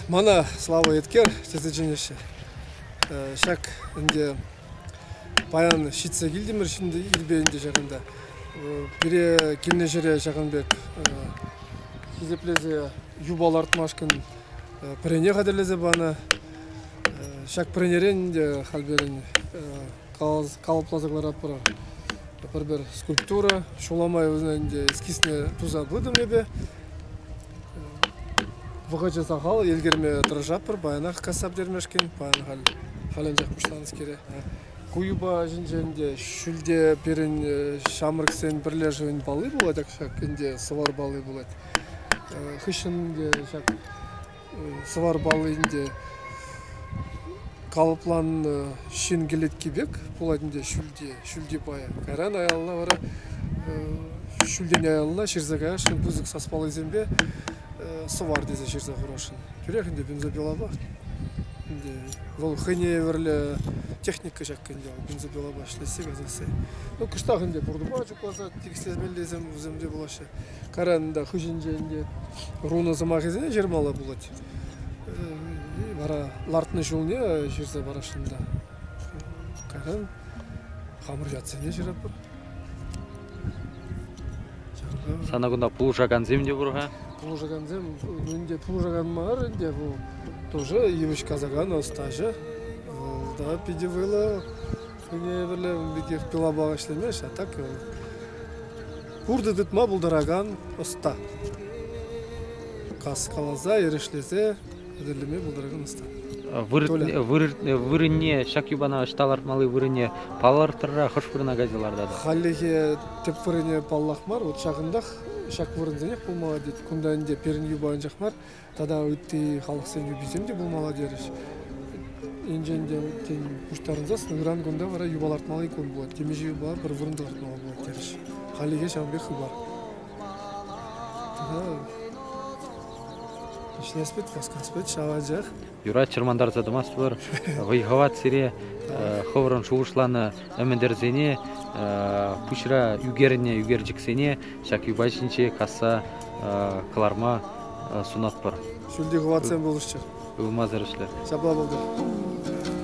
Мана Слава Эткер тесе чӗнеҫҫӗ. Ҫак ӗнтӗ паян ҫитсе килтӗмӗр ҫӗнӗ ирпе ӗнтӗ ҫакӑнта. Пире килнӗ ҫӗре ҫакӑн пек хисеплесе юпа лартмашкӑн пӗрене хатӗрлесе панӑ. Ҫак пӗренерен те халь пирӗн калӑпласа кӑларатпӑр пӗр-пӗр скульптура. Ҫул май вӗсен ӗнтӗ эскизне туса пытӑм эпӗ. Вӑхӑчӗ сахал, ӗлкӗрме тӑрӑшатпӑр паянах касса пӗтермешкӗн. Паян халь халь анчах пуҫланӑскере. Ку юпа ҫинчен те ҫӳлте пирӗн ҫамрӑксен пӗрлешӗвӗн палли пулать ак ҫак ӗнтӗ сӑвар палли пулать. Хыҫҫӑн ҫак сӑвар палли ӗнтӗ калӑпланнӑ ҫын кӗлетки пек пулать ӗнтӗ ҫӳлте, ҫӳлти пая. Кайран аялла вара ҫӳлтен аялла ҫырса каясшӑн пысӑк саспаллисемпе сӑвар тесе ҫырса хурасшӑн. Тӳрех ӗнтӗ бензопилапах ӗнтӗ вӑл хӑйне евӗрлӗ техника ҫак ӗнтӗ вӑл бензопилапа ӗҫлесси касасси. Ну кӑштах ӗнтӗ пуртӑпа чукласа тикӗслемеллисем вӗсем те пулаҫҫӗ. Каранта хыҫӗнче ӗнтӗ руна сӑмахӗсене ҫырмалла пулать. Вара лартнӑ ҫулне ҫырса парасшӑн та. Кайран хамӑр ятсене ҫыратпӑр. Сана кунта пулӑшакансем те пур-ха? Пулӑшакансем ӗнтӗ пулӑшакан мар ӗнтӗ вӑл тоже йывӑҫ касакан ӑстаҫӑ. Вӑл та питӗ вӑйлӑ Хӑйне евӗрлӗ пекех кӑлапа ӗҫлемест, а так пуртӑ тытма пултаракан ӑста. Каскаласа, эрешлесе хатӗрлеме пултаракан ӑста. Вырӑнне, ҫак юпана ӑҫта лартмалли вырӑнне палӑртӑрра хӑш вырӑна кайса лартатӑр? Хальлӗхе тӗп вырӑнне паллах мар, вот ҫакӑнтах ҫак вырӑнсенех пулмалла тет. Кунта ӗнтӗ пирӗн юпа анчах мар, тата ытти халӑхсен юписем те пулмалла терӗҫ. Енчен те тен пуҫтарӑнсас, ыран кунта вара юпа лартмалли кун пулать. Темиҫе юпа пӗр вырӑнта лартмалла пулать терӗҫ. Хальлӗхе ҫавӑн пек хыпар. Ӗҫлес васкас вӗт ҫав анчах. Юрать, чӑрмантарса тӑмастпӑр. Вӑй-хӑват сире, хӑвӑрӑн шухӑшланӑ ӗмӗтӗрсене, пуҫра ӳкернӗ ӳкерчӗксене ҫак юпа ҫинче касса кӑларма сунатпӑр. Ҫӳлти хӑватсем пулӑшчӑр. Ывмасӑр ӗҫлӗр. Ҫапла пултӑр.